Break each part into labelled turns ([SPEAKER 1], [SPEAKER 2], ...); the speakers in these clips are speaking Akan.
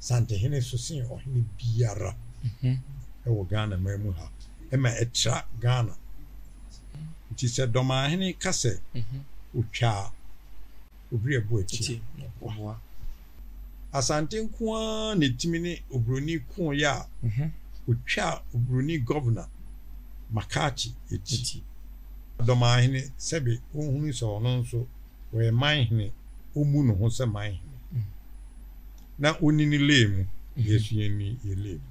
[SPEAKER 1] Santehene so sen ɔhene biara wɔ Ghana man mu ha ma ɛtra Ghana. Nti sɛ Dɔmanhene ka sɛ ɔtwa a, Obiri ɛbo atie na ɔboa. Asante nko ara na ɛtumi ne Oburoni kooeɛ a ɔtwaa Oburoni Gɔvena Makati ti. Dɔmanhene sɛbe ɔnhunu sɛ ɔno nso ɔyɛ Manhene, ɔmmu ne ho sɛ Manhene. na onni ne lane mu, yɛn nso yɛnni yɛn lane mu.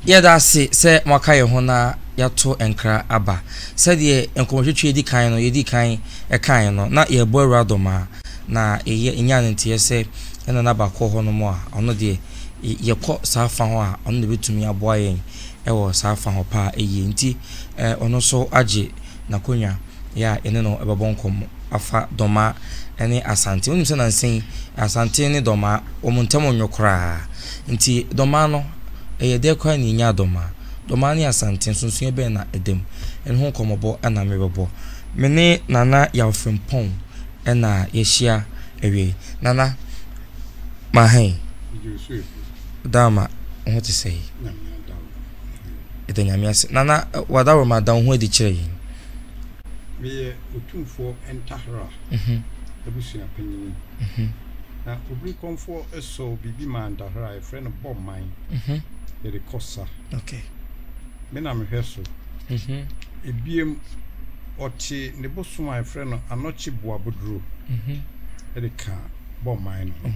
[SPEAKER 2] Yɛda ase sɛ moaka yɛn ho na yɛato nkra aba. Sɛdeɛ nkɔmmɔtwetwe di kan no yɛdi kan kaeɛ no, na yɛrebɔ awura dɔm a, na ɛyɛ ɛnyaa no nteɛ sɛ yɛn nana baako wɔ hɔnom a ɔno deɛ, yɛkɔ saa fa hɔ a, ɔno na ɛbɛtumi aboa yɛn wɔ saa fa hɔ paa yie nti ɔno nso agye n'akonnwa yɛ a yɛne no ɛbɛbɔ nkɔmmɔ afa dɔma ne asante wonim sɛ nansa yi asante ne dɔma wɔn ntam nnwo koraa nti dɔma no ɛyɛ dɛ koraa na ɛnya dɔma dɔma ne asante nsonsoɛ bɛn na ɛdam ɛno ho nkɔmmɔbɔ na mebɛbɔ me ne nana yawfrempɔn Ɛna yɛhyia awiei. Nana Mahɛn, Adaworoma wo ho te sɛn? Yɛda Nyame ase. Nana w'Adaworoma da wo ho adi kyerɛ yɛn.
[SPEAKER 1] Meyɛ Otumfoɔ Ntahra mhm. abusua panyini. Mhm. Na Obirikɔmfoɔ sɔɔ biribi maa Ntahra, yɛfrɛ no bɔ man. Mhm. Yɛde kɔ sa. Okay.
[SPEAKER 2] me na
[SPEAKER 1] mehwɛ so. Ebiem, ɔte ne bosom a yɛfrɛ no anɔkye boaboduro de ka bɔ mman no ho.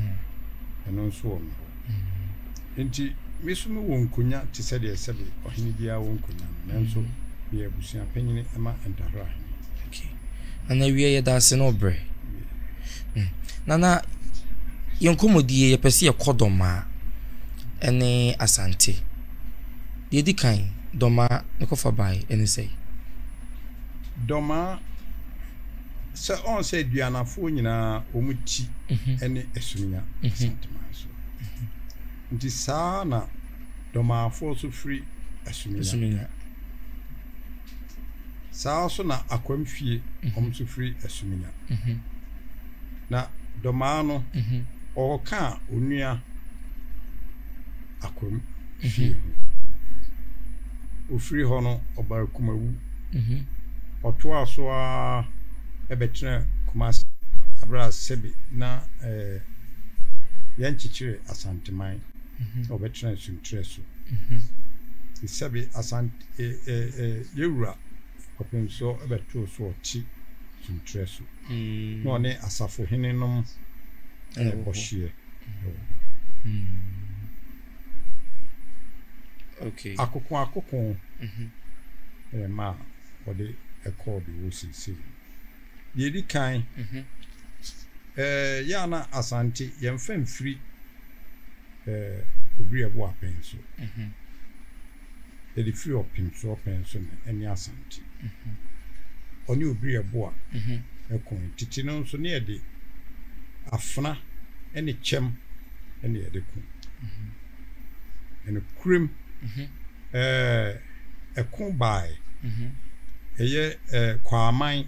[SPEAKER 1] Ɛno nso wɔ me hɔ. Enti me nso mewɔ nkonya te sɛ deɛ sɛbe ɔhene biara wɔ nkonya no, nanso meyɛ abusua panyini ma Ntahora hene.
[SPEAKER 2] Nana wie yɛda ase na ɔbrɛ. Hmm. Nana, yɛn nkɔmmɔdie yɛpɛ sɛ yɛkɔ Dɔmaa ne Asante. Deɛ ɛdi kan, Dɔmaa ne kɔfa bae, ɛne sɛ. Dɔmaa,
[SPEAKER 1] sɛ ɔn sɛ aduanafoɔ nyinaa wɔn ti ne asunya Asanteman so. Nti saa na Dɔmaafoɔ nso firi Asuminya. Saa ara so na akwam fie wɔn nso firi asuminya. Na Domaa no ɔɔkaa onua akwam fie ho. Ofiri hɔ no ɔbaa Kumawu. Ɔtoaa so ara bɛtenaa Kumasi. Bere a sɛbe na yɛnkyekyere Asanteman na ɔbɛtenaa Suntrɛ so. Sɛbe Asante. yɛn Wura kɔpem so bɛtoo so ɔte suntrɛ so, na ɔne asafo hene nom bɔ hyeɛ.
[SPEAKER 2] Akoko akoko
[SPEAKER 1] ɛyɛ ma a wɔde ɛkɔɔ de wɔ seesei. Deɛ ɛdi kan, yɛ a na Asante yɛmfa mfiri Obriɛ Boapen so. Yɛde firi ɔpem so ɔpɛn so na ɛne Asante. Ɔne Obiri Ɛboa na kɔn. Tete no nso na yɛde Afena ne Kyɛm na yɛde ko. Nokorem ɛɛ ɛko baaɛ ɛyɛ ɛɛ Kwaaman.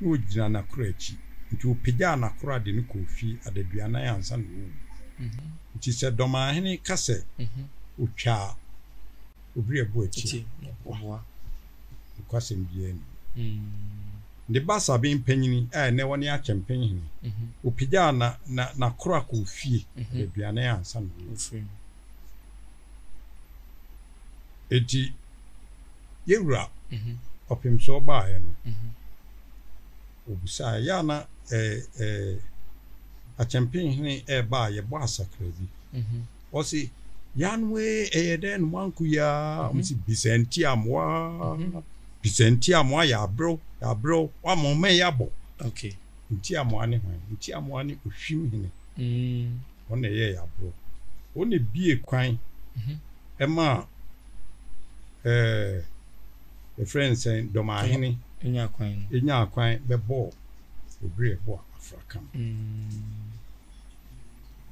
[SPEAKER 1] na ogyinaa n'akora akyi. Enti opegyaa n'akora de no kɔɔ fie adaduanan ansa na wawu. Enti sɛ Dɔmanhene ka sɛ otwaa Obiriabo akyi a, ɔboa. Nokwasɛm biara nni ho. Ne ba Sabin Panyin a ɛnnɛ ɔne Akyɛmpen Hene, opegyaa n'akora kɔɔ fie adaduanan ansa na wawu. Eti yewura ɔpem so ɔbaaɛ no, obisaa ɛyɛ a na akyɛmpenhene ɛɛba a yɛbɔ asakra bi? Ɔse, Yanwe ɛyɛ dɛn na moanko yi ara? Ɔse, Bisa nti a moa, bisa nti a moa, yɛabrɛw, yɛabrɛw, woama ɔman yi abɔ. Nti a
[SPEAKER 2] moa
[SPEAKER 1] ne hwan? Nti a moa ne Ohwim hene. Wɔn na ɛyɛɛ aboro. Wɔn na ebiee kwan maa yɛfrɛ no sɛn, Dɔmahene nyaa kwan bɛbɔɔ Odwiri Ɛboa afraka no.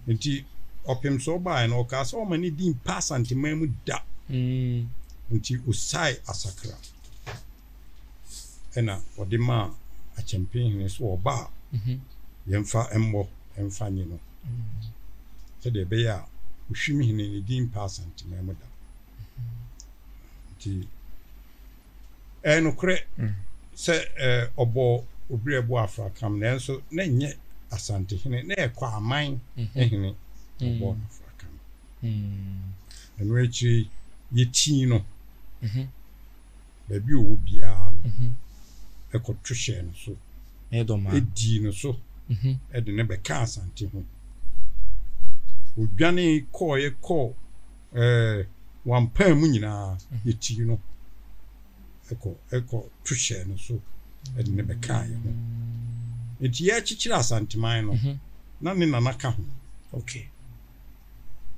[SPEAKER 1] Nti ɔpem so ɔbaeɛ no, ɔkaa sɛ ɔmma ne din mpa Asanteman mu da. Nti ɔsiae Asakra. ɛna ɔde maa akyɛmpenhene so ɔba a mhm. yɛmfa mmɔ mfa nye no mhm. sɛdeɛ ɛbɛyɛ a ohwim hene ne din pa asantema mu da mhm. nti ɛyɛ nokorɛ sɛ ɔbɔ obiri ɛbɔ afrakam nanso na nyɛ asante hene na ɛkɔ aman hene ɔbɔ afrakam ɛno akyiri yɛtii no baabi a ɔwɔ biara no, kɔto hyɛɛ no so, dii no so de no bɛkaa Asante ho. Ɔdwanee kɔeɛ kɔɔ wampaa mu nyinaa, yɛtii no kɔto hyɛɛ no so de no bɛkaa yɛn ho. Enti yɛrekyekyere Asanteman no, na ne nana ka ho.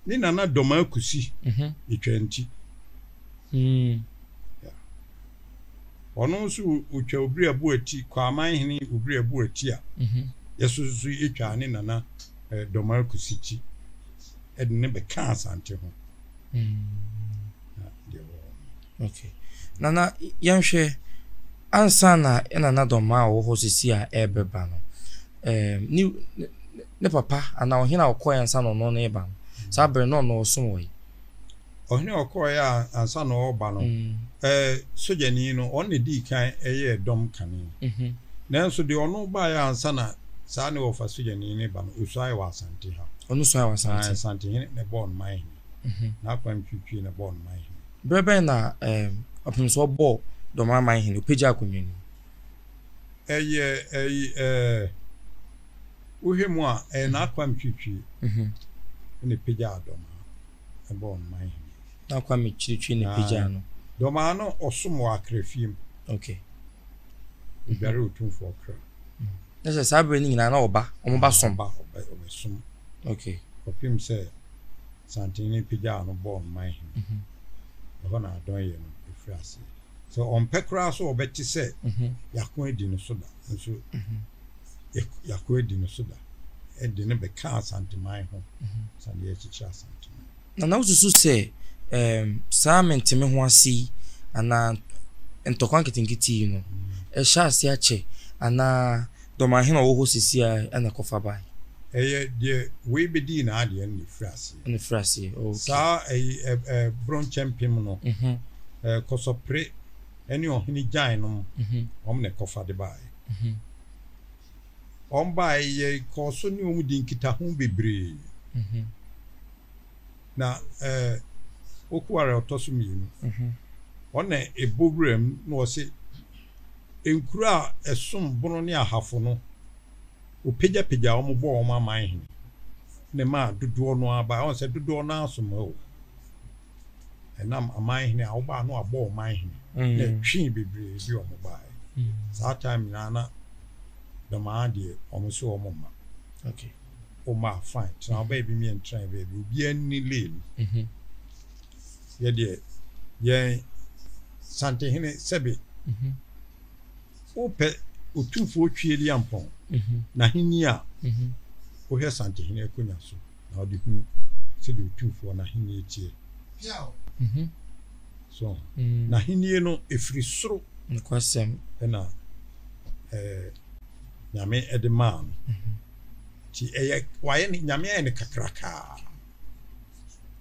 [SPEAKER 1] Ne nana dɔmaa kusi etwa nti. Ɔno nso otwa obiri abo ati Kwaaman hene obiri abo ati a yɛsoso yi etwaa ne nana dɔmaa kusi ti ɛde ne bɛkaa Asante ho.
[SPEAKER 2] Okay. Nana, yɛnhwɛ ansa na ɛna na dɔmma a ɔwɔ hɔ sisi a ɛrebɛba no. Ɛɛm ne ne papa anaa ɔhene a ɔkɔɛ ansa na ɔno ne reba no. Saa bere no ɔno ɔsom wɔ yi. Ɔhene a
[SPEAKER 1] ɔkɔɛ a ansa na ɔreba no. Mm. Ɛɛ sogyani no ɔno na edii kan ɛyɛɛ dɔm kane. Mhm. Nanso deɛ ɔno baeɛ ansa na saa ne wɔfa sogyani no ba no osuae wɔ Asante ha. Ɔno suae wɔ Asante.
[SPEAKER 2] Asante hene na
[SPEAKER 1] ɛbɔɔ no man hene. Mhm. N'akwan twitwi na ɛbɔɔ no man hene. Berɛ bɛn na
[SPEAKER 2] ɛɛm ɔpemsoɔ bɔɔ Dɔmraman hene, ɔpagyaa akonnwa no mu? Ɛyɛ ɛyi ɛɛ wohwɛ mu a ɛyɛ N'Akwam Twitwi na ɛpagyaa Dɔmaa ɛbɔɔ no man hene. N'Akwam Twitwi na ɛpagyaa no. Dɔmaa no ɔsom
[SPEAKER 1] wɔ Akra fie mu.
[SPEAKER 2] Okay.
[SPEAKER 1] Ɔdware Otumfoɔ Ɔkra. Na sɛ saa
[SPEAKER 2] berɛ no nyinaa na ɔba, wɔn ba som. Ɔba ɔbɛ ɔbɛsom.
[SPEAKER 1] Okay.
[SPEAKER 2] Kɔpem sɛ
[SPEAKER 1] santen no pagyaw no bɔɔ no man hene. Ɛhɔ na adɔn yɛ no firi aseɛ. Sɛ ɔmpɛ koraa so ɔbɛte sɛ yɛako adi no so da, nanso yɛako adi no so da de no bɛka Asanteman ho sɛdeɛ yɛkyekyere Asanteman. Na na wosusu sɛ
[SPEAKER 2] um, saa menteme ho ase yi anaa ntɔkwa nketenkete yi no, ɛhyɛ ase akyɛ anaa Dɔmahene a ɔwɔ hɔ seesei na ɛkɔfa bae. Ɛyɛ deɛ
[SPEAKER 1] wei bɛdii n'adeɛ no na ɛfiri aseɛ. Na ɛfiri aseɛ, ok. Saa ɛyi
[SPEAKER 2] ɛ
[SPEAKER 1] ɛ borɔ nkyɛmpem no, ɛ Kɔsɔpre ne Ɔhene Gyan nom, wɔn na ɛkɔfa de baeɛ. Wɔn baeɛ yɛ kɔɔ so ne wɔn dii nkitaho bebree. Na ɛ Okuare a ɔtɔ so mmienu, wɔn na ɛbɔ wuram na wɔse, Nkuro a ɛsom bono ne ahafo no, wɔpagyapagyaa wɔn bɔɔ wɔn aman hene ne maa dodoɔ no ara baeɛ. Ɔn sɛ dodoɔ no ara som o. Ɛnam aman hene a wɔbaa no abɔ ɔman hene na ɛtwee bebree bi wɔn baeɛ. Saa time nyinaa na dɔm ara deɛ wɔn so wɔn mma. Okay.
[SPEAKER 2] Wɔn mma
[SPEAKER 1] fine. Tena baabi meɛ ntra baabi. Obiara nni lane. Yɛ deɛ yɛn Santehene sɛbe wopɛ Otumfoɔ Twie Liampɔn n'ahenni a, wohwɛ Santehene akonnwa so na wode hunu sɛdeɛ Otumfoɔ n'ahenni teɛ. So n'ahenni no ɛfiri soro na Nyame de maa no, nti ɛyɛ wayɛ no Nyame ayɛ no kakrakaa.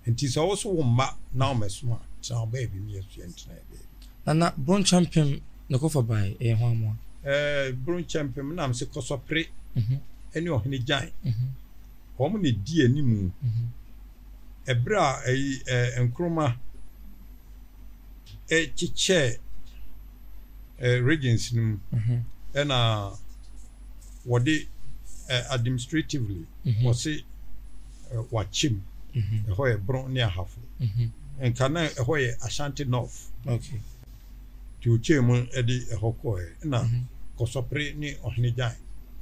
[SPEAKER 1] Nti sɛ wo so wo mma na wɔmɛsom a, tena wo baabi ne yɛsoɛ ntena yɛ baabi. Nana Bronkyɛmpem
[SPEAKER 2] na ɛkɔfa bae, ɛyɛ hwan mmoa? Ɛɛ Bronkyɛmpem
[SPEAKER 1] Nnamse Kɔsɔpere mhm. ne Ɔhene Gyan. Mhm. Wɔn na ɛdi anim. Mhm. Ɛberɛ a ɛyi ɛɛ Nkrumah ɛkyekyɛɛ ɛɛ regions no mu ɛna wɔde administratively wɔse wɔakyɛ mu, ɛhɔ yɛ Bron ne Ahafo. Nka na ɛhɔ yɛ Ashanti North. Okay. Nti ɔkyɛɛ mu de ɛhɔ kɔɔɛ. Ɛna Kɔsɔpere ne Ɔhene Gyan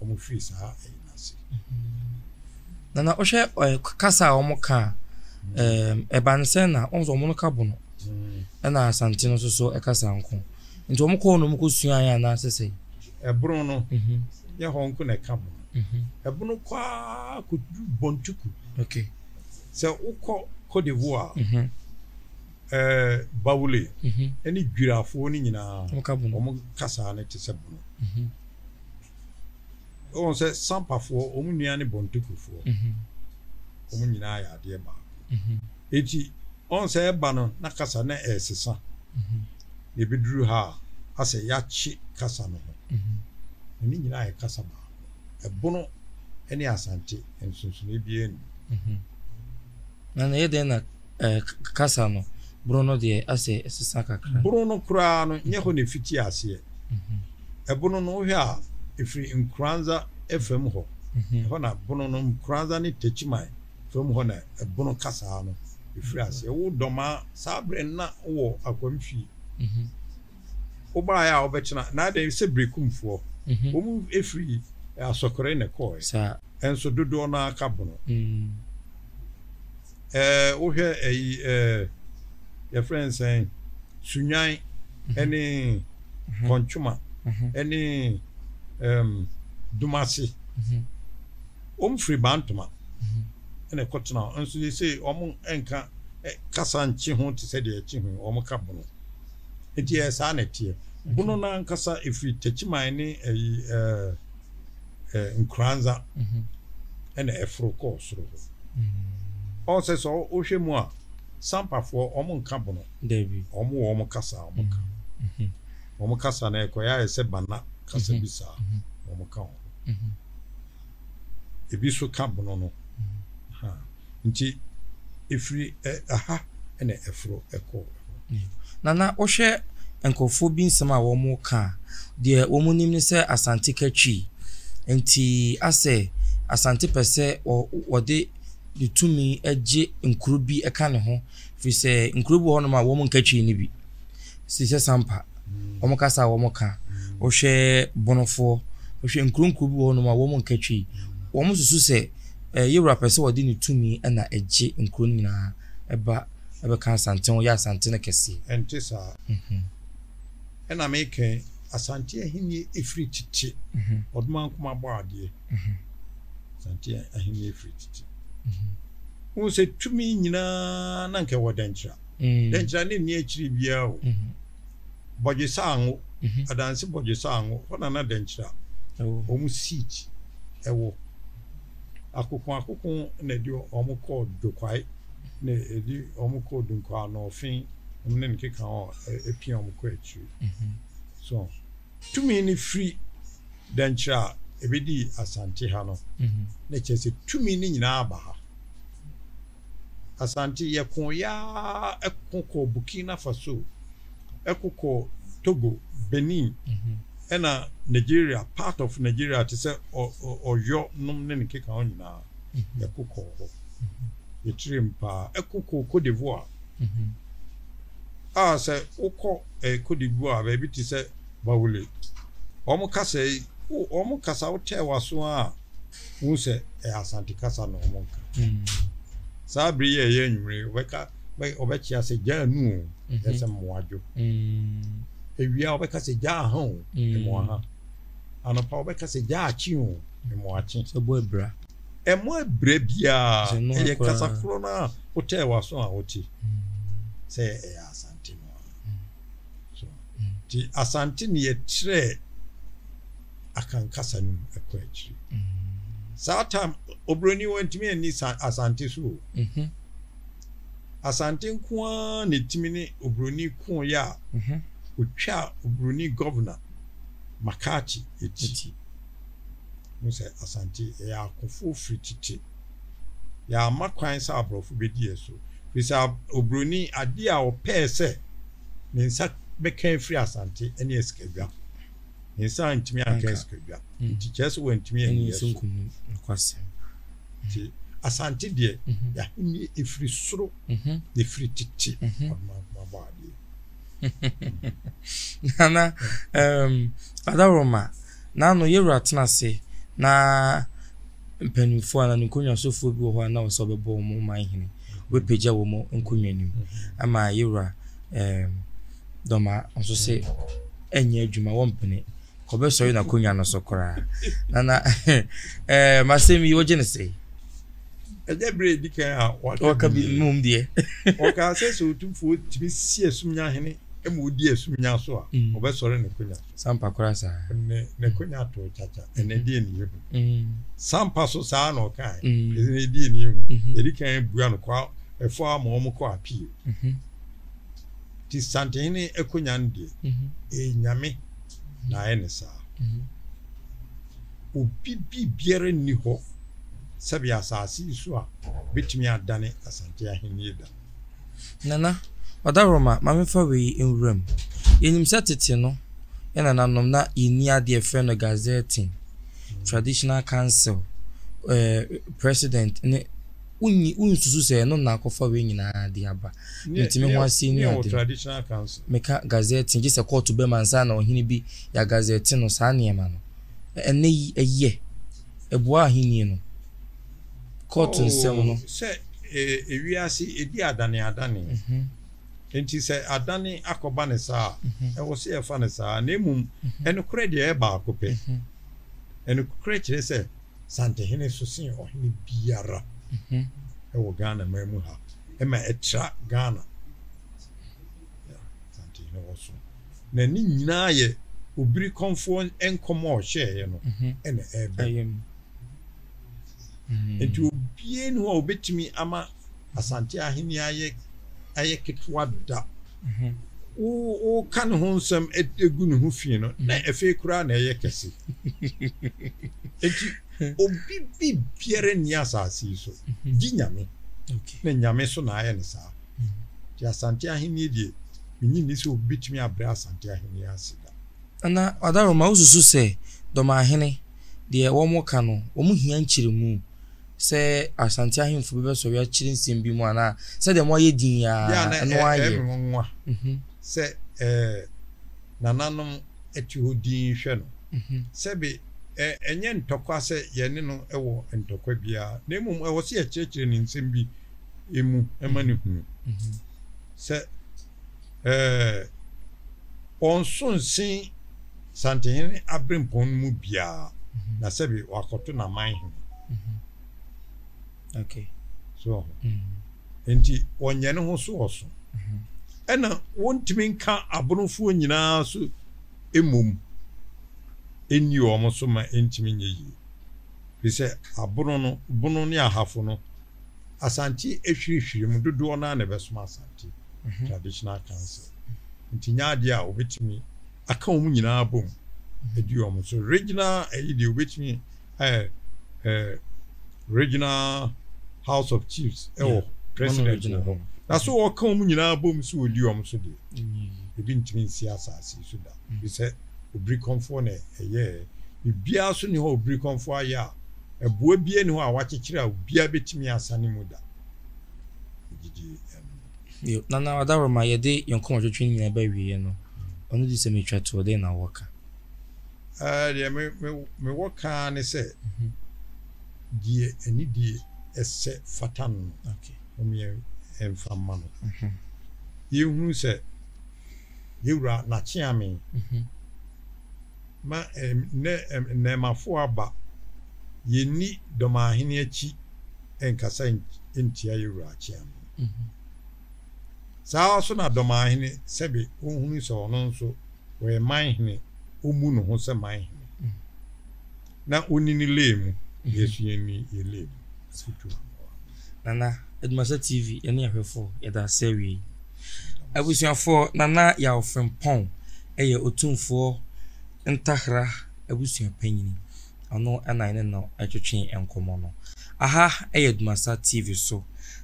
[SPEAKER 1] wɔn firi saa ɛyi no ase. Na na
[SPEAKER 2] wohwɛ kasa a wɔn ka a, ɛba no sɛ na wɔn wɔn no ka Bono. Ɛna Asante no nso so ɛkasa nko. Nti wɔn kɔɔ no wɔn kɔ suaeɛ anaasɛ sɛ? ɛbono no
[SPEAKER 1] nyɛ hɔ nko na ɛka bɔ no ɛbono kɔ ara kɔduru bɔntuku
[SPEAKER 2] sɛ
[SPEAKER 1] wokɔ Cote d'Ivoire mhm. eh, bawule mhm. ɛne dwirafoɔ no nyinaa wɔn kasaa no te sɛ bono mhm. wɔn sɛ sampafoɔ wɔn nua ne bɔntukufoɔ wɔn nyinaa yɛ adeɛ baako Enti, ɔn sɛ ɛba no na kasa no ɛresesa, na ebeduru ha a, asɛ yɛakye kasa no ho. Na ne nyinaa yɛ kasa baako. Ɛbono ne Asante, nsonsonoe biara nnim.
[SPEAKER 2] Na ɛyɛ dɛn na kasa no bono no deɛ asɛ ɛsesa kakra? Bono no koraa no,
[SPEAKER 1] nyɛ hɔ na efiti aseɛ. Ɛbono no, wohwɛ a, efiri Nkoranza fam hɔ. Ɛhɔ na bono no, Nkoranza ne Techiman fam hɔ na ɛbono kasaa no firi aseɛ. Wo dɔmaa saa berɛ no na wowɔ akwam fie. Wobaeɛ a wobɛkyena na adɛn sɛ Berekumfoɔ? Wɔn firi Asɔkore na ɛkɔɔɛ nso dodoɔ
[SPEAKER 2] no ara
[SPEAKER 1] ka bono. Ɛɛ wohwɛ ɛyi ɛɛ yɛfrɛ no sɛn Sunwan ɛne Kɔntwoma ɛne ɛɛm Dumase. Wɔn firi Bantama na ɛkɔtena hɔ nso seesei wɔn nka kasa nkye ho te sɛ deɛ ɛkye ho wɔn ka Bono. Nti ɛyɛ saa na ɛteɛ. Bono no ankasa ɛfiri Takyiman ne ɛyi ɛɛ Nkoranza ɛna ɛforo kɔɔ soro hɔ. Ɔwɔ sɛ sɛ wohwɛ mu a Sampafoɔ wɔn nka Bono. Dabi. Wɔn wɔ wɔn
[SPEAKER 2] kasa a wɔn
[SPEAKER 1] ka. Wɔn kasa no ɛkɔyɛ ayɛ sɛ Bana kasa bi saa wɔn ka ho. ebi nso ka bono no. Nti ɛfiri ha na ɛforo kɔ. Nana
[SPEAKER 2] wohwɛ nkurɔfoɔ bi nsɛm a wɔka a, deɛ wɔnim ne sɛ Asante ka Twi, nti asɛ Asante pɛ sɛ wɔde ne tumi gye nkuro bi ka ne ho, firi sɛ nkuro bi wɔ hɔnom a wɔnka Twi no bi, te sɛ Sampa. wɔn kasa a wɔn ka, wohwɛ bonofoɔ, wohwɛ nkuro nkuro bi wɔ hɔ nom a wɔn nka twi, wɔn susu sɛ eh, yɛwura pɛ sɛ ɔde ne tumi na ɛgye nkuro no nyinaa ɛba ɛbɛka asante ho yɛ asante no kɛseɛ. Ɛnte saa.
[SPEAKER 1] Mhm. Ɛna mekɛ asante ahenni ɛfiri tete mhm. ɔdoma nkoma bɔ adeɛ mhm. asante ahenni ɛfiri tete wohu sɛ tumi nyinaa na nkɛ wɔ dɛnkyerɛ Dɛ nkyira no nni ekyir biara o. Bɔdwe Saango, Adanse Bɔdwe Saango, hɔ na na Dɛ nkyira hɔn seat wɔ. Akoko Akoko na edi hɔn kɔɔ Dwokwae na edi hɔn kɔɔ Dunkwaa na ɔfe hom ne nkekã hɔn epia hɔn kɔ ekyir. So tumi no firi Dɛ nkyira a ebedii Asante ha no na kyerɛ sɛ tumi no nyinaa aba ha. Asante, yɛkoeɛ ara ko kɔɔ Burkina Faso, ko kɔɔ Togo, Benin, ɛna Nigeria, part of Nigeria te sɛ Ɔyɔ nom ne ne nkekaho nyinaa, yɛko kɔɔ hɔ. Yɛkyeree mu pa ara. Ko kɔɔ Côte d'Ivoire, a sɛ wokɔ Côte d'Ivoire baabi te sɛ Baoulé, wɔn kasa yi, wɔn kasa wotɛɛ w'aso ara a, Wohu sɛ ɛyɛ Asante kasa na wɔka. Saa bere yi a ɛyɛ anwummere yi, wɔbɛka, wɔbɛkyea sɛ gya anu o, ɛyɛ sɛ mmoa dwo. Awia wɔbɛka sɛ gya aha o, mmoa ha. Anɔpa wɔbɛka sɛ gya akye o, mmoa kye. Sɛ bɔ abira.
[SPEAKER 2] Ɛmmɔ abira
[SPEAKER 1] biara, ɛyɛ kasa korɔ no a wotɛɛ w'aso a wote sɛ ɛyɛ Asante no ara. So nti Asante ne yɛkyerɛɛ Akan kasa no mu ɛkɔ akyiri. Saa time Obroni wantumi anni Asante so o. Asante nko ara na ɛtumi ne Obroni kooeɛ a ɔtwaa Obroni Governor McCarthy akyi. Wohu sɛ Asante yɛyɛ akofoɔ firi tete. Yɛamma kwan sɛ aborɔfo bedi yɛn so, efisɛ oburoni, ade a ɔpɛe sɛ ne nsa bɛka afiri Asante ne asikadwam. Ne nsa antumi anka asikadwam, nti kyerɛ sɛ wantumi anni yɛn so.
[SPEAKER 2] Nti
[SPEAKER 1] Asante deɛ, mhm. y'ahenni efiri soro, mhm. na efiri tete, mhm. ɔdomankoma bɔ adeɛ.
[SPEAKER 2] Nana, um, Adaroma, n'ano yɛwura tena ase na mpanyimfoɔ anaa ne nkonnwa sofoɔ bi wɔ hɔ a na ɔsɛ ɔbɛbɔ wɔn ɔman hene wobɛpagya wɔn nkonnwa no mu ama yɛwura ɛɛm dɔma nso sɛ ɛnyɛ adwuma wɔmpene kɔbɛsɔre n'akonnwa no so koraa na na ɛɛ masɛm yi wogye ne sɛ ɛnyɛ
[SPEAKER 1] berɛ ɛdi kan a wɔka bi mmom
[SPEAKER 2] deɛ wɔka sɛ sɛ
[SPEAKER 1] ɔtumfoɔ tumi si asumnya hene ma ɔdi asumnya so a ɔbɛsɔre ne konya Sampa koraa saa.
[SPEAKER 2] Ɛnɛ n'akonya
[SPEAKER 1] too kyakya. Ɛnɛ deɛ ne yɛhu. Sampa so saa na ɔkae. Ɛnɛ deɛ ne yɛhu. Yɛde kan bua no kɔ ɛfɔ ama wɔn kɔ appeal. Ti Santehene akonya no deɛ, ɛyɛ Nyame na ayɛ no saa. Obi biribiara nni hɔ sɛbe asase yi so a bɛtumi adane Asante Ahennie da. Nana,
[SPEAKER 2] Ɔdawuroma, ma memfa wei nwura mu. Yenim sɛ tete no, yɛn nananom na yenni ade a yɛfrɛ no gazetting, traditional council, eh, president ne wonni wonsusu sɛ ɛno na akɔfa wei nyinaa de aba. Nti me ho ase ni ade no. Meka
[SPEAKER 1] gazetting gye
[SPEAKER 2] sɛ kɔɔto bɛma ansa na ɔhene bi yɛagazɛte no saa nneɛma no. Ɛnnɛ yi ɛyɛ. Ɛboa ahenni no. kɔɔto nsɛm no. Oh, sɛ eh,
[SPEAKER 1] wiase edi adane adane. Enti sɛ adane akɔba no saa a, ɛwɔ sɛ yɛfa no saa. Na mmom, nokorɛ deɛ ɛyɛ baako pɛ. Nokorɛ kyerɛ sɛ Santehene so sen ɔhene biara wɔ Ghana man mu ha. Ɛma ɛtra Ghana. Santehene wɔ so. Na ne nyinaa yɛ Obirikɔmfoɔ nkɔm a ɔhyɛeɛ no na ɛreba mu. Nti obiara nni hɔ a obetumi ama Asante Ahenni ayɛ ayɛ ketewa da. Wo woka ne ho nsɛm gu ne ho fi no, na afei koraa na ɛyɛ kɛse. Nti obi bi biara nni asase yi so gye Nyame, na Nyame so na ayɛ ne saa. Nti Asante Ahenni deɛ, menye nni sɛ obi betumi abrɛ Asante Ahenni ase da. Ana Ɔdaro
[SPEAKER 2] ma wosusu sɛ Dɔmahene deɛ wɔka no wɔn hia nkyeremu sɛ Asante ahemfo bi bɛsɔre akyere nsɛm bi mu anaa sɛdeɛ moayɛ din yi ara ɛno ara yɛ? Deɛ na ɛyɛ me nwonwa sɛ
[SPEAKER 1] nananom te hɔ dinn hwɛ no. Sɛbe ɛnyɛ ntɔkwa sɛ yɛne no wɔ ntɔkwa biara na mmom ɛwɔ sɛ yɛkyerɛkyerɛ no nsɛm bi mu ma no hunu sɛ Ɛɛ, ɔnso nsen Santehene aberempɔn no mu biara, na sɛbe wakɔto n'aman hene.
[SPEAKER 2] Okay. So ɔho.
[SPEAKER 1] Enti ɔnyɛ ne ho so ɔso. Ɛna wɔntumi nka abonofoɔ nyinaa so mmom nni wɔn so ma ɛntumi nyɛ yie. Firi sɛ abono no, bono ne ahafo no, Asante ahwirihwiri mu dodoɔ no ara na ɛbɛsom Asante Traditional Council. Nti nyɛ adeɛ a wɔbɛtumi aka wɔn nyinaa abom adi wɔn so. Regional ɛyi deɛ wɔbɛtumi ayɛ eh, Regional House of Chiefs ɛwɔ yeah. president wɔ hɔ. Na so wɔka wɔn nyinaa abom so wɔdi wɔn so deɛ mm-hmm. ebi ntumi nsi asase so da. Bi sɛ obirikɔnfoɔ na ɛyɛɛ biribiara so ne hɔ obirikɔnfoɔ ayɛ a Ɛboɔ biara nni hɔ a wɔakyekyere a obiara bɛtumi asa ne mu da. Wogye di? Bio,
[SPEAKER 2] Nana Adaworoma, yɛde yɛn nkɔmmɔtwetwe no nyinaa ba awieeɛ no, ɔno de sɛ metwa toɔ, dɛn na wowɔ ka? Ɛɛ,
[SPEAKER 1] deɛ me, me, mewɔ ka ara ne sɛ, deɛ anidie ɛsɛ fata no no, Okay. mom
[SPEAKER 2] yɛmfa
[SPEAKER 1] mma no. Yɛnhunu sɛ Yɛwura Nakye Amee, Ma ɛnnɛ nnɛɛmafo aba. Yenni dɔmahene akyi nkasa ntia yɛn wura akyea no. Saa ara nso na dɔmahene sɛbe onhunu sɛ ɔno nso ɔyɛ man hene, ommu ne ho sɛ man hene. Na wonni ne lane mu, yɛn nso yɛnni yɛn lane mu. Asɛm tu ma mmoa. Nana
[SPEAKER 2] Adumasɛ TV ne ahwɛfoɔ, yɛda ase awiei. Abusuafoɔ, Nana Yaw Frimpong yɛ Otumfoɔ Ntahra abusua panyini. Ɔno na yɛne no retwetwe nkɔmmɔ no. Aha yɛ Adumasa TV so,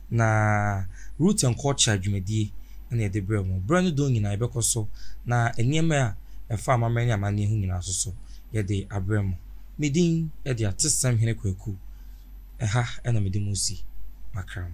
[SPEAKER 2] na Root and Culture dwumadie na yɛde brɛ mo. Berɛ no dɔn nyinaa yɛbɛkɔ so na nneɛma a ɛfa amammerɛ ne amanneɛ ho nyinaa nso so yɛde abrɛ mo. Me din de Atesɛm Hene Kwaku. Ɛha na mede mo si makram.